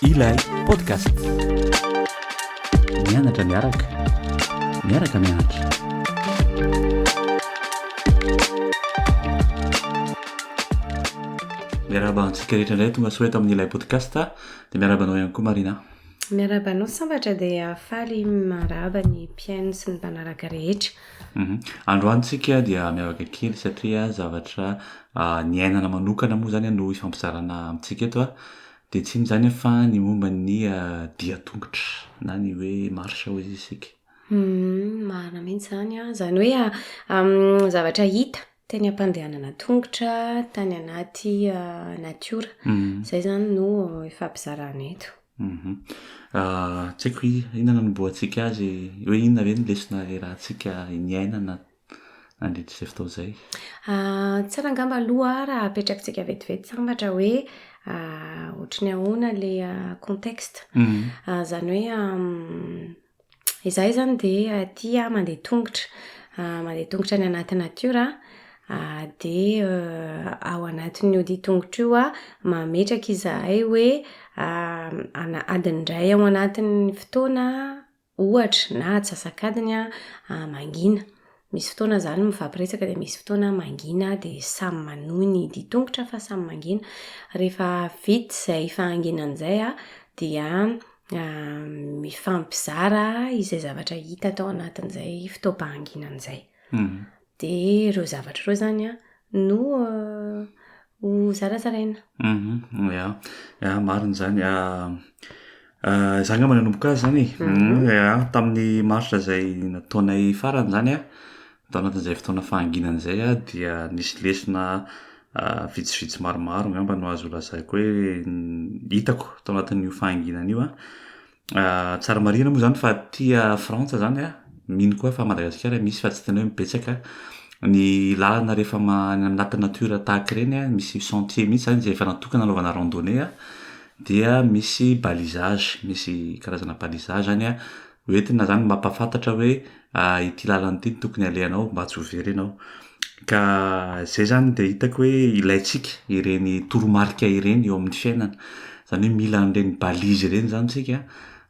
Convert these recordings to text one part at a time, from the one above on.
Ilay podcast. Mianatra miaraka. Miaraka mianatra. Miarahaba antsika rehetra indray tonga soa eto amin'ny ilay podcast. Dia miarahaba anao ihany koa Marina. Miarahaba anao sambatra dia faly manrahaba ny mpihaino sy ny mpanaraka rehetra. Mhm. Androany tsika dia miavaka kely satria zavatra ah, niainana manokana moa zany no hifampizarana amintsika eto ah. Dia tsy inona izany fa ny momba ny ah, dia tongotra na ny hoe marche hoy isika. Mhm, marina mihitsy izany an! Izany hoe am, zavatra hita Teny am-pandehanana an-tongotra, tany anaty natiora. Izay izany no ifampizarana eto. Tsy haiko hoe inona no hanombohantsika azy, hoe inona ve no lesona iarahantsika niainana nandritra izay fotoana izay? Tsara angamba aloha raha apetrakitsika vetivety sambatra hoe ohatry ny ahoana ilay contexte. Izany hoe Izahay izany dia aty mandeha tongotra. Mandeha tongotra any anaty natiora. Dia ao anatin'ny ody tongotra io mametraka izahay hoe adiny iray ao anatin'ny fotoana ohatra na atsasak'adiny mangina. Misy fotoana za no mifampiresaka dia misy fotoana mangina dia samy manohy ny hidia tongotra fa samy mangina. Rehefa vita izay fahanginana izay an, dia mifampizara izay zavatra hita tao anatin'izay fotoam-pahanginana izay. Dia ireo zavatra ireo izany an, no ho zarazaraina. Ya, ya marina izany. Izaho angamba nanomboka azy izany e, ya, tamin'ny marsa izay nataonay farany izany an, tao anatin'izay fotoana fahanginana izay an, dia nisy lesona vitsivitsy maromaro angamba no azo lazaiko hoe hitako tao anatin'io fahanginana io an. Ah, tsara marihina moa zany fa tia frantsa zany a, mino koa fa madagasikara misy fa tsy tena hoe betsaka, ny lalana rehefa ma- any anaty natiora tahaka ireny a, misy sentier mihitsy zany zay efa natokana anaovana randonnée a, dia misy balisage, misy karazana balisage any a, ho entina zany mampahafantatra hoe. ary ity lalana ity no tokony alehanao mba tsy ho very ianao, ka izay zany dia hitako hoe ilaintsika ireny toromarika ireny eo amin'ny fiainana, izany hoe mila an'ireny balise ireny izany isika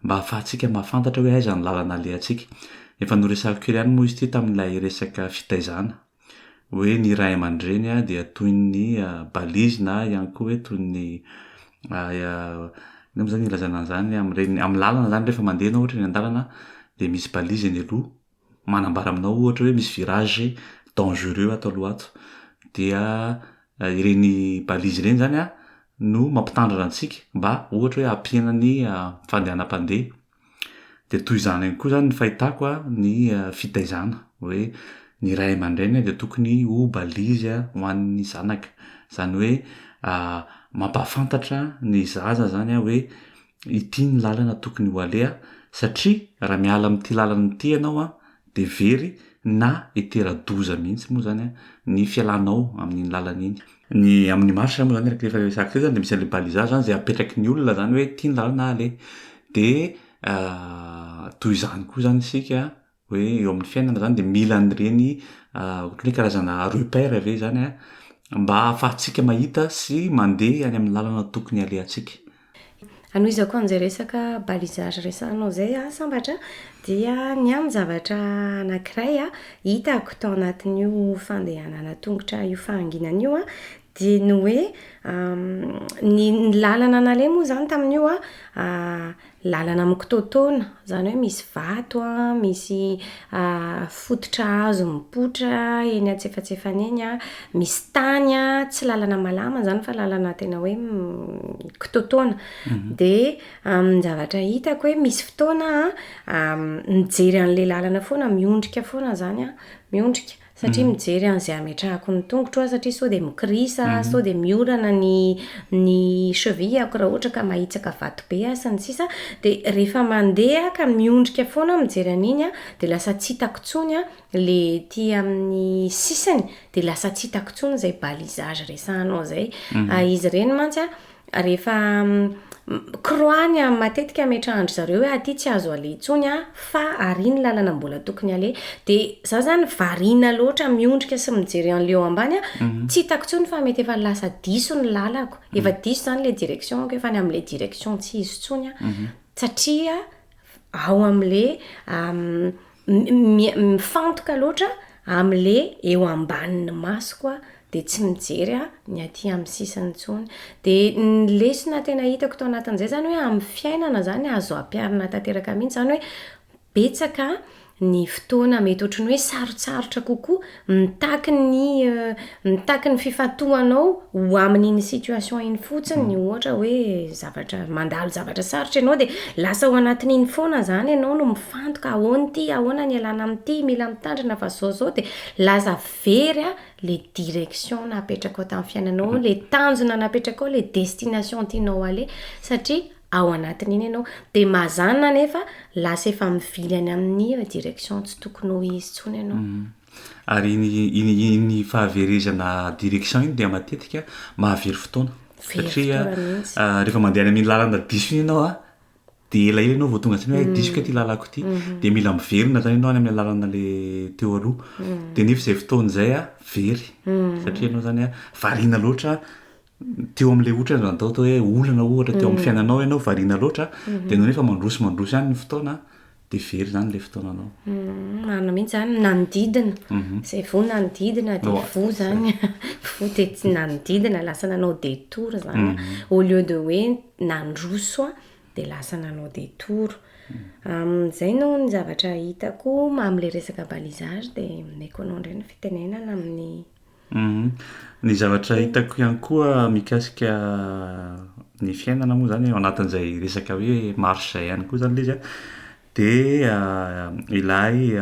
mba ahafahantsika mahafantatra hoe aiza ny lalana alehantsika, efa noresahiko kely ihany moa izy ity tamin'ilay resaka fitaizana. hoe ny ray aman-dreny dia toy ny balise na ihany koa hoe toy ny inona moa izany ilazana an'izany amin'ireny, amin'ny lalana izany rehefa mandeha ianao ohatra eny an-dalana dia misy balise eny aloha manambara aminao ohatra hoe misy virage dangereux ato aloha ato dia ireny balise ireny izany no mampitandrina antsika mba ohatra hoe hampihenana ny fandehanam-pandeha Dia toy izany ihany koa izany ny fahitako ny fitaizana hoe ny ray aman-dreny dia tokony ho balizy ho an'ny zanaka. Izany hoe mampahafantatra ny zaza izany hoe ity ny lalana tokony ho aleha satria raha miala amin'ity lalana ity ianao dia very na hitera-doza mihitsy moa izany ny fialanao amin'iny lalana iny. Ny amin'ny marche moa izany rehefa resaka izay izany dia misy an'ilay balisage izany izay apetraky ny olona izany hoe ity ny lalana aleha. Dia toy izany koa izany isika hoe eo amin'ny fiainana izany dia mila an'ireny ohatran'ny hoe karazana repère ve izany mba ahafahantsika mahita sy mandeha any amin'ny lalana tokony halehantsika. Hanohizako an'izay resaka balisage resahanao izay aho sambatra dia ny ahy ny zavatra anankiray hitako tao anatin'io fandehanana an-tongotra io fahanginana io an, dia ny hoe ny ny lalana naleha moa izany tamin'io an, lalana mikototona. Izany hoe misy vato, misy fototra hazo mipoitra eny antsefatsefany eny, misy tany, tsy lalana malama izany fa lalana tena hoe kitoatoana. Dia amin'ny zavatra hitako hoe misy fotoana aho mijery an'ilay lalana foana, miondrika foana izany aho, miondrika. satria mijery an'izay ametrahako ny tongotro aho satria sao dia mikirisa aho, sao dia miorana ny ny cheville-ako raha ohatra ka mahitsaka vato be aho sy ny sisa dia rehefa mandeha aho ka miondrika foana aho mijery an'iny an, dia lasa tsy hitako intsony an, ilay ety amin'ny sisiny dia lasa tsy hitako intsony izay balisage resahanao izay, izy ireny mantsy an, Rehefa mi-croix-ny an, matetika ametrahan-dry zareo hoe aty tsy azo aleha intsony an, fa ary ny lalana mbola tokony aleha. Dia za zany variana loatra miondrika sy mijery an'ilay eo ambany an, tsy hitako intsony fa mety efa lasa diso ny lalako. Efa diso izany ilay direction-ko, efa any amin'ilay direction tsy izy intsony an. Satria ao amle mifantoka loatra amle eo ambanin'ny masoko aho de tsy mijery a ny aty amin'ny sisiny intsony de ny lesona tena hitako tao anatin'izay zany hoe amin'ny fiainana zany azo ampiharina tanteraka mihitsy zany hoe betsaka ny fotoana mety ohatry ny hoe sarotsarotra kokoa, mitaky ny mitaky ny fifantohanao ho amin'iny situation iny fotsiny, ohatra hoe zavatra mandalo zavatra sarotra ianao dia lasa ao anatin'iny foana izany ianao no mifantoka ahoana ity, ahoana ny ialana amin'ity, mila mitandrina fa izao izao dia lasa very an ilay direction napetrakao tamin'ny fiainanao, ilay tanjona napetrakao, ilay destination tianao aleha satria. ao anatin'iny ianao dia mazana anefa lasa efa mivily any amin'ny direction tsy tokony ho izy intsony ianao. Mhm. Ary iny iny iny fahaverezana direction iny dia matetika mahavery fotoana. Very Satria fotoana mihitsy. ah, rehefa mandeha any amin'iny lalana diso iny ianao ah, dia elaela ianao vao tonga tsy hoe diso kay ity lalako ity. Dia mila miverina zany ianao any amin'ny lalana le teo aloha. Dia nefa izay fotoana izay ah, very. Satria ianao zany ah, variana loatra teo amin'ilay ohatra zany atao atao hoe olana ohatra teo amin'ny fiainanao ianao variana loatra dia ianao nefa mandroso mandroso ihany ny fotoana dia very izany ilay fotoananao. Mm, marina mihitsy zany nanodidina mhm. izay voa nanodidina dia voa zany voa dia tsy nanodidina lasa nanao détour zany mhm. au lieu de hoe nandroso dia lasa nanao détour amin'izay no ny zavatra hitako amin'ilay resaka balisage dia omeko anao indray ny fitenenana amin'ny Humm. Ny zavatra hitako ihany koa mikasika ny fiainana moa zany ao anatin'izay resaka hoe marche zay ihany koa zany le izy a, de ilay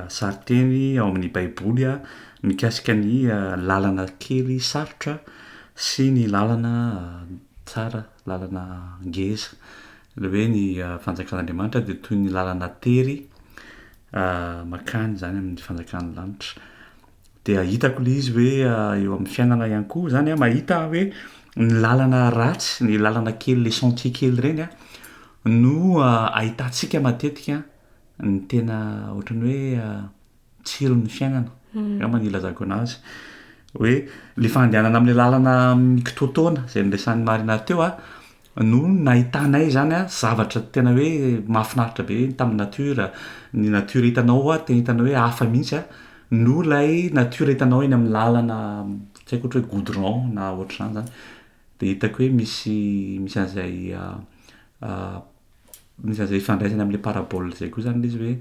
sarinteny ao amin'ny baiboly a mikasika ny lalana kely sarotra sy ny lalana tsara, lalana ngeza, le hoe ny fanjakan'Andriamanitra de toy ny lalana tery makany zany amin'ny fanjakan'ny lanitra. dia hitako le izy hoe eo amin'ny fiainana ihany koa zany a mahita aho hoe ny lalana ratsy ny lalana kely le sentier kely ireny a no ahitantsika matetika ny tena ohatrany hoe tsiron'ny fiainana angamba ny ilazako anazy hoe le fandehanana am'le lalana mikitoatoana zay niresahan'ny marina teo a no nahitanay izany a, zavatra tena hoe mahafinaritra be tamin'ny nature, ny nature hitanao a tena hitanao hoe hafa mihitsy a, noho ilay nature hitanao eny amin'ny làlana tsy haiko ohatra hoe goudron na ohatr'izany zany, de hitako hoe misy misy an'zay misy an'zay ifandraisany am'le parabole zay koa zany le izy hoe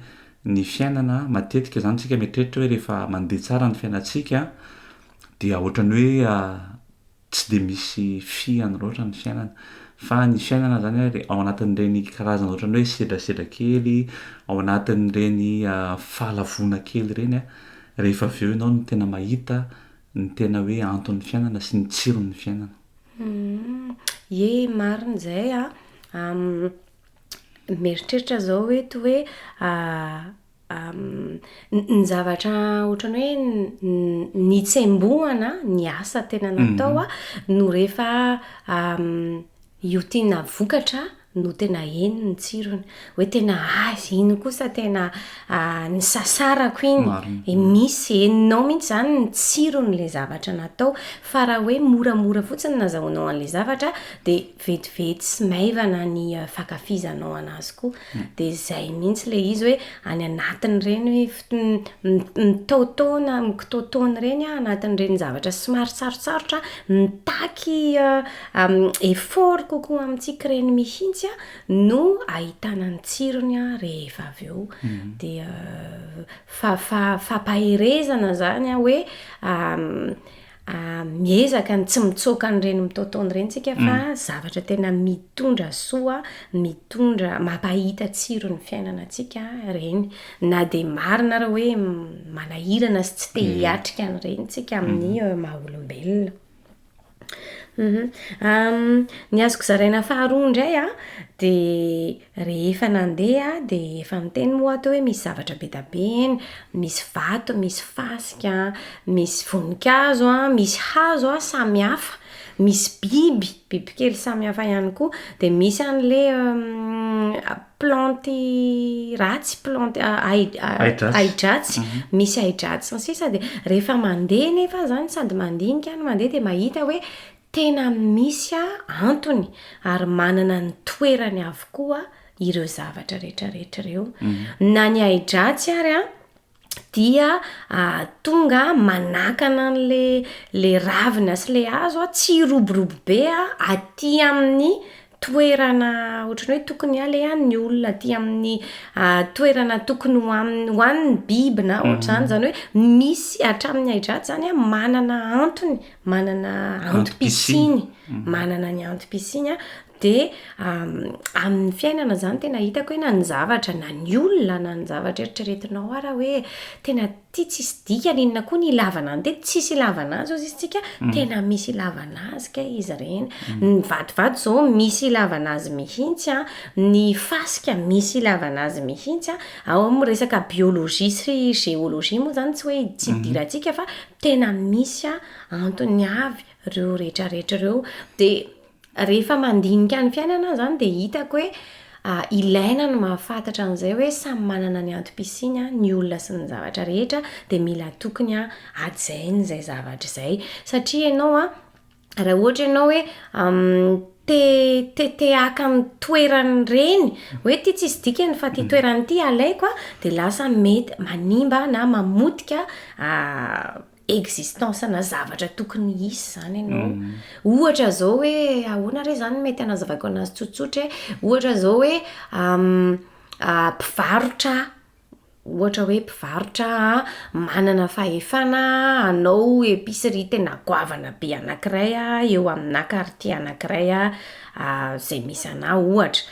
ny fiainana matetika zany tsika mieritreritra hoe rehefa mandeha tsara ny fiainantsika dia ohatran'ny hoe tsy dia misy fihany loatra ny fiainana fa ny fiainana zany ary ao anatin'ireny karazana ohatran'ny hoe sedrasedra kely ao anatin'ireny fahalavoana kely ireny a rehefa avy eo ianao no tena mahita ny tena hoe anton'ny fiainana sy ny tsiron'ny fiainana. Ye marina izay a mieritreritra zao hoe toa hoe Ny zavatra ohatran'ny hoe nitsembohana ny asa tena mhm. natao a no rehefa iotiana vokatra no tena eny ny tsirony hoe tena azy iny kosa tena ny sasarako iny e misy eninao mihitsy zany ny tsirony le zavatra natao fa raha hoe moramora fotsiny nazahoanao an'le zavatra dia vetivety sy maivana ny fankafizanao anazy koa de zay mintsy le izy hoe any anatiny reny hoe mitaotaona mikitaotaona reny a anatiny reny zavatra somary sarotsarotra mitaky effort kokoa amintsika reny mihintsy a no ahitana ny tsirony a rehefa avy eo de fa fa fampaherezana zany a hoe Miezaka ny tsy mitsoaka an'ireny mitaotaona ireny isika fa mm. zavatra tena mitondra soa, mitondra mampahita tsiro ny fiainana antsika ireny. Na dia marina ary hoe manahirana sy tsy te mm. hiatrika an'ireny tsika mm. amin'ny eh, maha-olombelona. Mhm. Ny azoko zaraina faharoa indray a, dia Rehefa nandeha aho dia efa miteny moa aho teo hoe misy zavatra be dia be eny, misy vato, misy fasika, misy voninkazo, misy hazo samy hafa, misy biby, bibikely samy hafa ihany koa, dia misy an'ilay plantes ratsy, plantes ahidratsy, misy ahidratsy sy ny sisa, dia rehefa mandeha nefa aho izany sady mandinika no mandeha dia mahita hoe Tena misy antony ary manana ny toerany avokoa ireo zavatra rehetrarehetra ireo. Na ny ahi-dratsy ary dia tonga manakana an'ilay ravina sy ilay hazo tsy hiroborobo be aty amin'ny toerana ohatran'ny hoe tokony alehan' ny olona aty amin' ny toerana tokony ho aminy ho an' ny biby na ohatr'izany. Izany hoe misy hatramin' ny haidratsy izany manana antony, manana antom-pisiany, manana ny antom-pisiany. Dia amin' ny fiainana izany tena hitako hoe na ny zavatra na ny olona na ny zavatra eritreretinao ary aho hoe tena Ty tsisy dikany inona koa ny ilavana an'ity? Tsisy ilavana azy hozy izy tsika, tena misy ilavana azy kay izy ireny. Ny vatovato izao misy ilavana azy mihitsy an, ny fasika misy ilavana azy mihitsy an, ao amin'ny resaka biologie sy géologie moa izany tsy hoe tsy idirantsika fa tena misy antony avy ireo rehetra rehetra ireo. Dia Rehefa mandinika ny fiainana aho izany dia hitako hoe ilaina ny mahafantatra an'izay hoe samy manana ny antom-pisiany an, ny olona sy ny zavatra rehetra dia mila tokony hajaina izay zavatra izay. Satria ianao an, raha ohatra ianao hoe te te te haka ny toeran'ireny, hoe ity tsisy dikany fa ity toerana ity alaiko an, dia lasa mety manimba na mamotika existence na zavatra tokony hisy zany ianao. Ohatra zao hoe ahoana re zany mety hanazavaiko anazy tsotsotra e. Ohatra zao hoe mpivarotra aho, ohatra hoe mpivarotra aho, manana fahefana hanao epicerie tena goavana be anankiray aho eo amina quartier anankiray a, zay misy anah ohatra.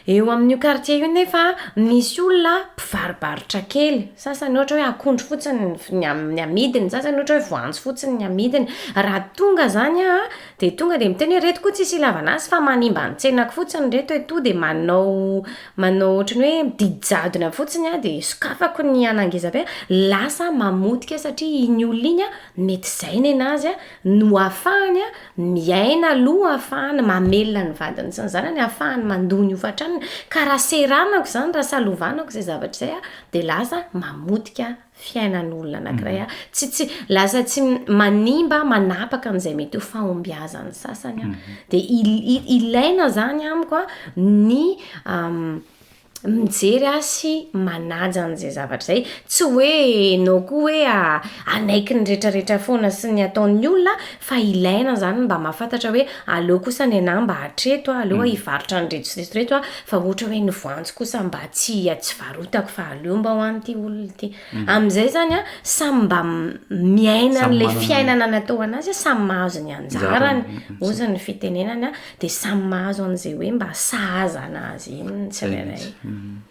Eo amin'io kartie io nefa misy olona mpivaribarotra kely, sasany ohatra hoe akondro fotsiny ny amidiny, ny sasany ohatra hoe voanjo fotsiny ny amidiny, raha tonga zany aho de tonga de miteny hoe reto koa tsisy ilavana azy fa manimba ny tsenako fotsiny reto e, to de manao manao ohatran'ny hoe didy jadona fotsiny aho de sokafako ny an'angezabe, lasa mamotika satria iny olona iny mety zay nenazy no ahafahany miaina aloha, ahafahany mamelona ny vadiny sy ny zanany, ahafahany mandoa ny hofan-tranony, ka raha seranako izany, raha salovanako izay zavatra izay aho, dia lasa mamotika fiainan'olona anankiray aho, tsy, tsy, lasa tsy manimba, manapaka an'izay mety ho fahombiazan'ny sasany aho, dia il, il, ilaina izany amiko ny. mijery ahy sy manaja an'izay zavatra izay. Tsy hoe enao koa hoe hanaiky ny retraretra foana sy ny ataon'ny olona fa ilaina izany ny mba mahafantatra hoe aleo kosa ny anah mba hatreto aho, aleo aho hivarotra an'ireto sy ireto sy ireto aho fa ohatra hoe ny voanjo kosa mba tsy tsy varotako fa aleo mba ho an'ity olona ity. Amin'izay izany an, samy mba miaina an'ilay fiainana natao ho an'azy, samy mahazo ny anjarany hozy ny fitenenana Dia samy mahazo an'izay hoe mba sahaza an'azy iny ny tsirairay.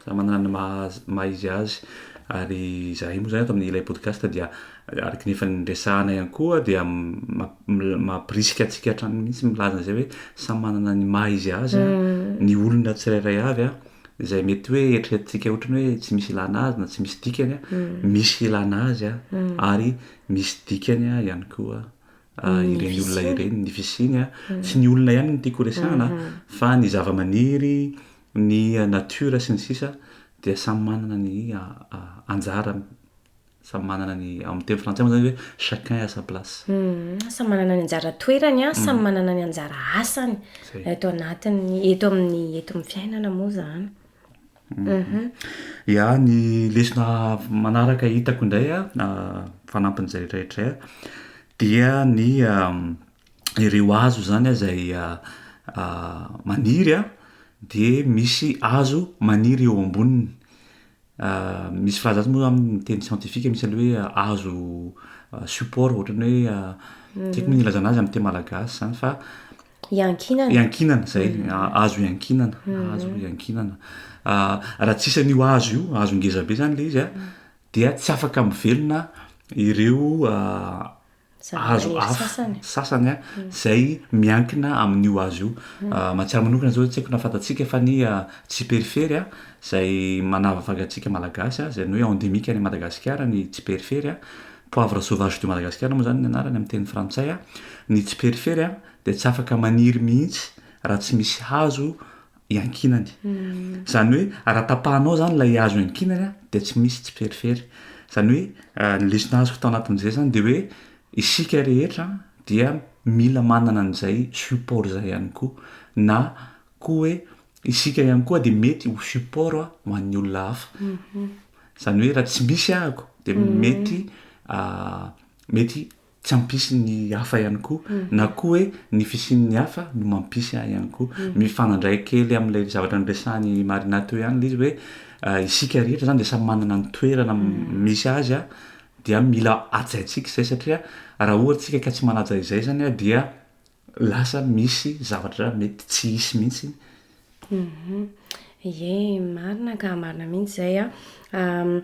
Samy manana ny maha izy azy. Ary izahay moa izany eto amin'ilay podcast dia araka ny efa niresahana ihany koa dia mampirisika antsika hatrany mihitsy milaza an'izay hoe samy manana ny maha izy azy ny olona tsirairay avy an, izay mety hoe eritreretintsika ohatry ny hoe tsy misy ilana azy na tsy misy dikany an, misy ilana azy an, ary misy dikany ihany koa. ireny olona ireny ny fisiany a tsy ny olona ihany no tiako horesahana fa ny zavamaniry ny natiora sy ny sisa dia samy manana ny anjarany samy manana ny amin'ny teny frantsay moa zany hoe chacun à sa place samy manana ny anjara toerany a samy manana ny anjara asany eto anatin'ny eto amin'ny eto amin'ny fiainana moa zany Ya, ny lesona manaraka hitako indray fanampin'izay rehetra izay dia ny ireo hazo zany izay maniry de misy hazo maniry eo amboniny misy filazana moa zany amin'ny teny siantifika misy ny hoe hazo support ohatran'ny hoe tsy haiko moa ny ilazana azy amin'ny teny malagasy zany fa Iankinana. Iankinana, izay. Hazo iankinana. Hazo iankinana. Raha tsy isan'io hazo io, hazo ngeza be izany ilay izy, dia tsy afaka mivelona ireo hazo hafa sasany izay miankina amin'io hazo io. Mahatsiaro manokana izao, tsy haiko na fantatsika fa ny tsiperifery izay manavaka antsika Malagasy, izay ny hoe endemique any Madagasikara ny tsiperifery. Poivre sauvage de Madagascar moa izany ny anarany amin'ny teny frantsay. Ny tsiperifery dia tsy afaka maniry mihitsy raha tsy misy hazo iankinany. Izany hoe raha tapahanao izany ilay hazo iankinany dia tsy misy tsiperifery. Izany hoe ny lesona azoko tao anatin'izay izany dia hoe isika rehetra dia mila manana an'izay support izay ihany koa na koa hoe isika ihany koa dia mety ho support ho an'ny olona hafa. Izany hoe raha tsy misy ahako dia mety mety tsy hampisy ny hafa ihany koa na koa hoe ny fisian'ny hafa no mampisy ahy ihany koa. Mifanandray kely amin'ilay zavatra niresahan'i Marina teo ihany ilay izy hoe isika rehetra izany dia samy manana ny toerana misy azy dia mila hajaintsika izay satria raha ohatra isika ka tsy manaja izay izany dia Lasa misy zavatra mety tsy hisy mihitsy. Ie, marina ka, marina mihitsy izay an,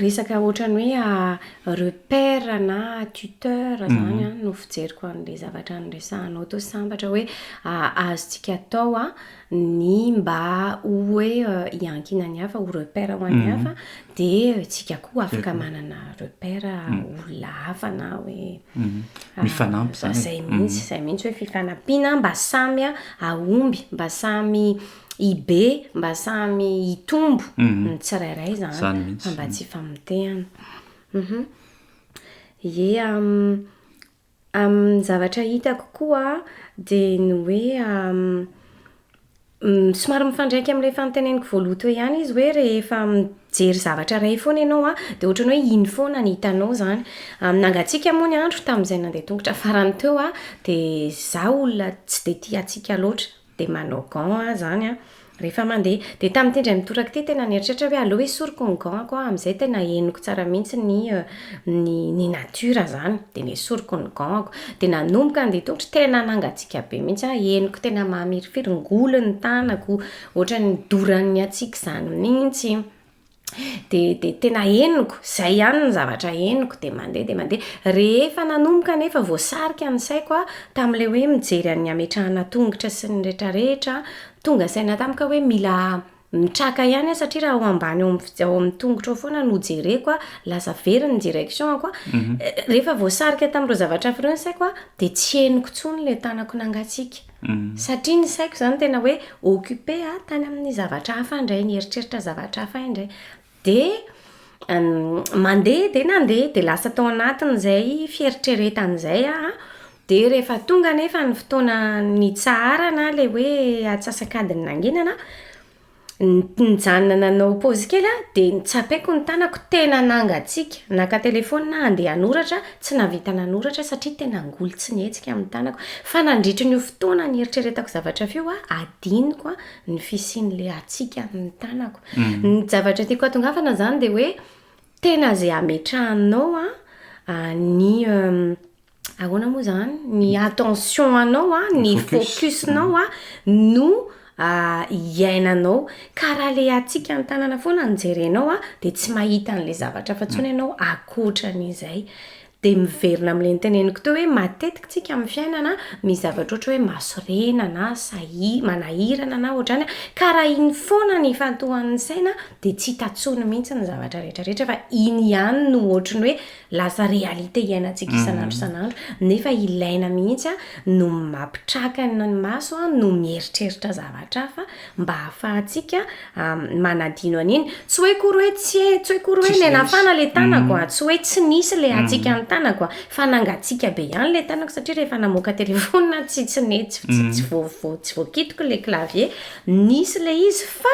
resaka ohatran'ny hoe repère na tuteur izany no fijeriko an'ilay zavatra niresahanao teo sambatra hoe azontsika atao an, ny mba ho hoe hiankina ny hafa, ho repère ho an'ny hafa, dia isika koa afaka manana repère olona hafa na hoe... Mifanampy izany. Izay mihitsy, izay mihitsy hoe fifanampiana mba samy hahomby, mba samy hibe, mba samy hitombo ny tsirairay izany. Izany mihitsy. Fa mba tsy ifamotehana. Ie... Ny zavatra hitako koa dia ny hoe somary mifandraika amin'ilay fanontanianiko voaloha teo ihany izy hoe rehefa mijery zavatra iray foana ianao an, dia ohatran'ny hoe iny foana no hitanao izany. Nangatsiaka moa ny andro tamin'izay nandeha an-tongotra farany teo aho, dia izaho olona tsy dia tia hatsiaka loatra. dia manao gants aho izany an, rehefa mandeha. Dia tamin'ity indray mitoraka ity tena nieritreritra aho hoe aleo esoriko ny gants-ko an, amin'izay tena henoko tsara mihitsy ny ny ny natiora izany. Dia nesoriko ny gants-ko. Dia nanomboka handeha tongotra, tena nangatsiaka be mihitsy aho, henoko tena mamirifiry, ngoly ny tanako, ohatran'ny doran'ny hatsiaka izany mihitsy. dia dia tena henoko, izay ihany ny zavatra henoko, dia mandeha dia mandeha. Rehefa nanomboka anefa voasarika ny saiko aho tamin'ilay hoe mijery an'ny hametrahana tongotra sy ny rehetrarehetra, tonga saina tamiko aho hoe mila mitraka ihany aho satria raha ao ambany ao amin'ny ao amin'ny tongotra ao foana no jereko aho, lasa very ny direction-ko, rehefa voasarika tamin'ireo zavatra hafa ireo ny saiko dia tsy henoko intsony ilay tanako nangatsiaka. Satria ny saiko izany tena hoe occupé a, tany amin'ny zavatra hafa indray, nieritreritra zavatra hafa aho indray. Dia mandeha dia nandeha, dia lasa tao anatin'izay fieritreretana izay aho. Dia rehefa tonga anefa ny fotoana nitsaharana ilay hoe atsasak'adiny nangenana, Nijanona nanao pause kely aho dia notsapaiko ny tanako tena nangatsiaka. Naka telephone aho handeha hanoratra, tsy nahavita nanoratra aho satria tena angoly tsy nihetsika amin'ny tanako. Fa nandritry ny fotoana nieritreretako zavatra f'io aho, adinoko ny fisian'ilay hatsiaka amin'ny tanako. Ny zavatra tiako hatongavana izany dia hoe tena izay ametrahanao ny Ahoana moa izany? Ny attention anao, ny focus-nao no iainanao. Ka raha ilay hatsiaka ny tanana foana no jerenao dia tsy mahita an'ilay zavatra hafa intsony ianao ankoatran'izay. Dia miverina amin'ilay noteneniko teo hoe matetika isika amin'ny fiainana misy zavatra ohatra hoe mahasorena na sahi- manahirana na ohatrany ka raha iny foana no ifantohan'ny saina dia tsy hita intsony mihitsy ny zavatra rehetra rehetra fa iny ihany no ohatry ny hoe Lasa réalité iainantsika isan'andro isan'andro nefa ilaina mihitsy no mampitraka ny maso no mieritreritra zavatra hafa mba hahafahantsika manadino an'iny. Tsy hoe akory hoe tsy e, tsy hoe akory hoe nenafana le tanako a, tsy hoe tsy nisy le hatsiaka ny tanako a, fa nangatsiaka be ihany le tanako satria rehefa namoaka téléphone aho tsy tsy nety, tsy tsy voa voa tsy voakitiko le clavier, nisy le izy fa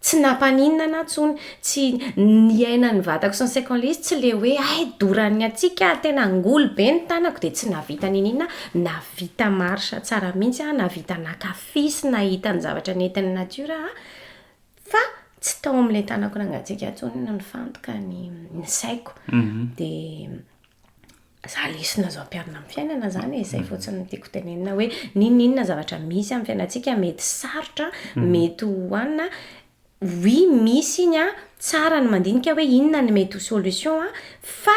Tsy nampaninona ahy intsony, tsy niainan'ny vatako sy ny saiko an'ilay izy, tsy ilay hoe hay doran'ny hatsiaka ary tena angoly be ny tanako dia tsy nahavita niniana aho, nahavita marche tsara mihitsy aho, nahavita naka fy sy nahita ny zavatra nentin'ny natiora aho, fa tsy tao amin'ilay tanako nangatsiaka intsony no nifantoka ny ny saiko. Dia za lesona azo ampiharina amin'ny fiainana izany e, izay fotsiny no tiako tenenina hoe n'inon'inona zavatra misy amin'ny fiainantsika mety sarotra, mhm. mety ho anina, oui misy iny a, tsara ny mandinika hoe inona ny mety ho solution a, fa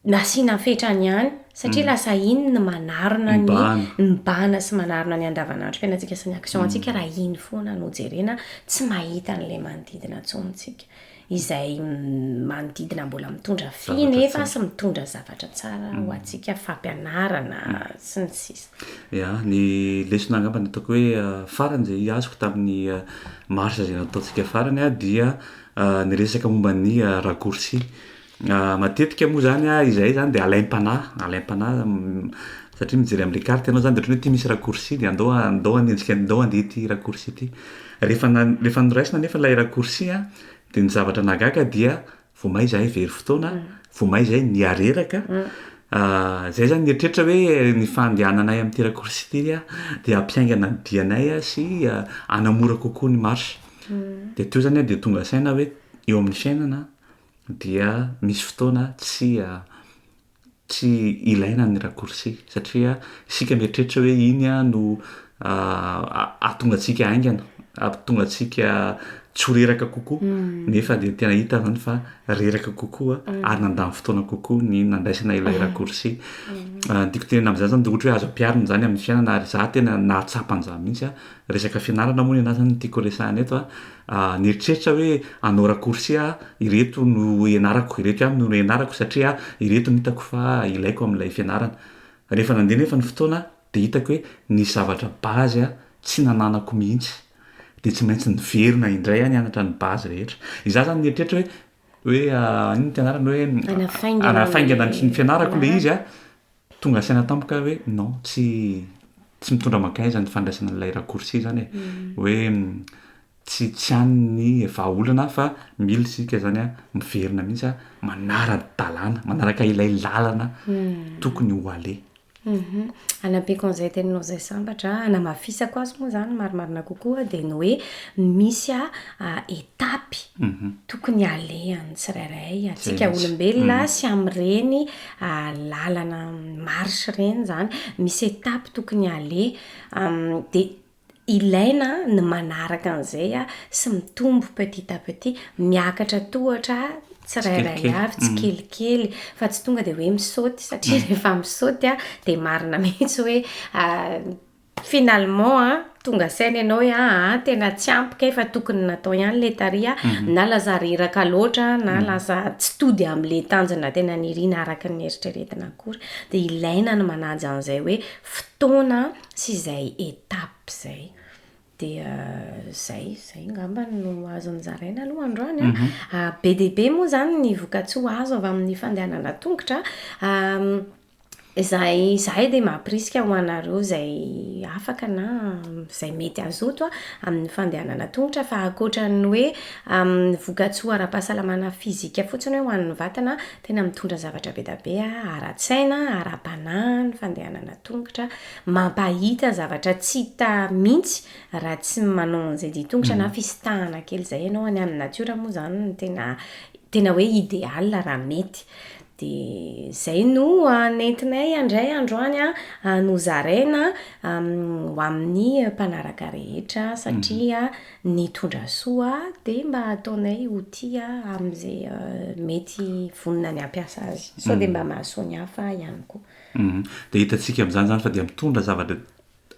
nasiana fetrany ihany satria mhm. lasa iny ny manarona ny mibahana sy manarona ny andavanandrom-piainantsika sy ny action mhm. antsika raha iny foana no jerena tsy mahita an'ilay manodidina intsony tsika. izay manodidina mbola mitondra fy nefa sy mitondra zavatra tsara ho antsika, fampianarana sy ny sisa. Ya, ny lesona angamba ny ataoko hoe farany izay azoko tamin'ny marche izay nataontsika farany dia niresaka momba ny raccourci. Matetika moa zany a, izahay zany dia alaim-panahy, alaim-panahy satria mijery an'le carte ianao zany de ohatra hoe ty misy raccourci de andao a- andao hanenjika an- andao handeha ity raccourci ty. Rehefa na- rehefa noraisina anefa lay raccourci a de ny zavatra nahagaga dia vao may izahay very fotoana, vao may izahay niha reraka, zay zany nieritreritra hoe ny fandehananay amin'ity raccourci ty a de hampiaingana ny dianay a sy hanamora kokoa ny marche. De teo zany a de tonga saina hoe eo amin'ny fiainana a. dia misy fotoana tsy tsy ilaina ny raccourci satria isika mieritreritra hoe iny no ahatonga antsika haingana, ahatonga antsika tsy ho reraka kokoa nefa dia tena hita izany fa reraka kokoa ary nandany fotoana kokoa ny nandraisana ilay raccourci. Ny tiako tenenana amin'izany izany dia ohatra hoe azo ampiharina izany amin'ny fiainana ary izaho tena nahatsapa an'izany mihitsy resaka fianarana moa ny anà izany no tiako resahina eto a. Aho nieritreritra hoe hanao raccourci aho, ireto no ianarako, ireto ihany no ianarako satria ireto no hitako fa ilaiko amin'ilay fianarana. Rehefa nandeha anefa ny fotoana dia hitako hoe nisy zavatra base aho tsy nananako mihitsy, dia tsy maintsy niverina indray aho nianatra ny base rehetra. Izaho izany nieritreritra hoe hoe inona no fianarana hoe hanafaingana ny fianarako ilay izy a! Tonga saina tampoka aho hoe non, tsy tsy mitondra mankaiza ny fandraisana an'ilay raccourci izany e. Hoe tsy tsy any ny vahaolana fa mila isika izany miverina mihitsy manara-dalàna, manaraka ilay làlana tokony ho aleha. Hanampiako an'izay teninao izay sambatra, hanamafisako azy moa izany marimarina kokoa dia ny hoe misy étape tokony alehany tsirairay antsika olombelona sy amin'ireny lalana marche ireny izany, misy étape tokony haleha, dia ilaina ny manaraka an'izay sy mitombo petit à petit, miakatra tohatra tsirairay avy tsikelikely fa tsy tonga dia hoe misaoty satria rehefa misaoty dia marina mihitsy hoe Finalement a, tonga saina ianao hoe aa tena tsy ampy kay fa tokony natao ihany le tary a, na lasa reraka loatra na lasa tsy tody amle tanjona tena nirina araka ny neritreretina akory. De ilaina ny manaja an'izay hoe fotoana sy izay étape zay. Dia zay, zay ngamba no azo nozaraina aloha androany a. Be dia be moa zany ny vokatsoa azo avy amin'ny fandehanana an-tongotra a. Izay izahay dia mampirisika ho anareo izay afaka na izay mety hazoto amin'ny fandehanana an-tongotra fa ankoatra ny hoe amin'ny vokatsoa ara-pahasalamana fizika fotsiny hoe ho an'ny vatana, tena mitondra zavatra be dia be ara-tsaina, ara-panahy ny fandehanana an-tongotra, mampahita zavatra tsy hita mihitsy raha tsy manao an'izay dia an-tongotra na fisintahana kely izay ianao, any amin'ny natiora moa izany no tena tena hoe idéal raha mety. Dia izay no nentinay handray androany an, nozaraina ho amin'ny mpanaraka rehetra satria ny tondra soa dia mba ataonay ho tia amin'izay mety vonona ny hampiasa azy sao dia mba mahasoa ny hafa ihany koa. Dia hitantsika amin'izany izany fa dia mitondra zavatra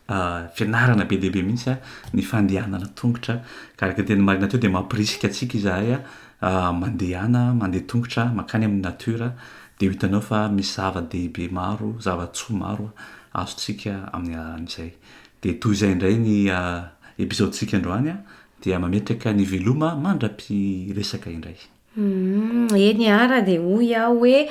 Fianarana be dia be mihitsy ny fandehanana an-tongotra ka araka ny teny marina teo dia mampirisika antsika izahay mandehana, mandeha an-tongotra mankany amin'ny natiora dia ho hitanao fa misy zava-dehibe maro, zava-tsoa maro azontsika amin'ny alalan'izay. Dia toy izay indray ny episode-ntsika androany dia mametraka ny veloma mandra-piresaka indray. Humm eny ara dia hoy aho hoe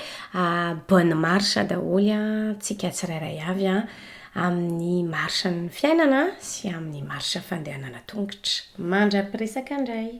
bonne marche daholo antsika tsirairay avy an, amin'ny marche ny fiainana sy amin'ny marche fandehanana tongotra. Mandra-piresaka indray.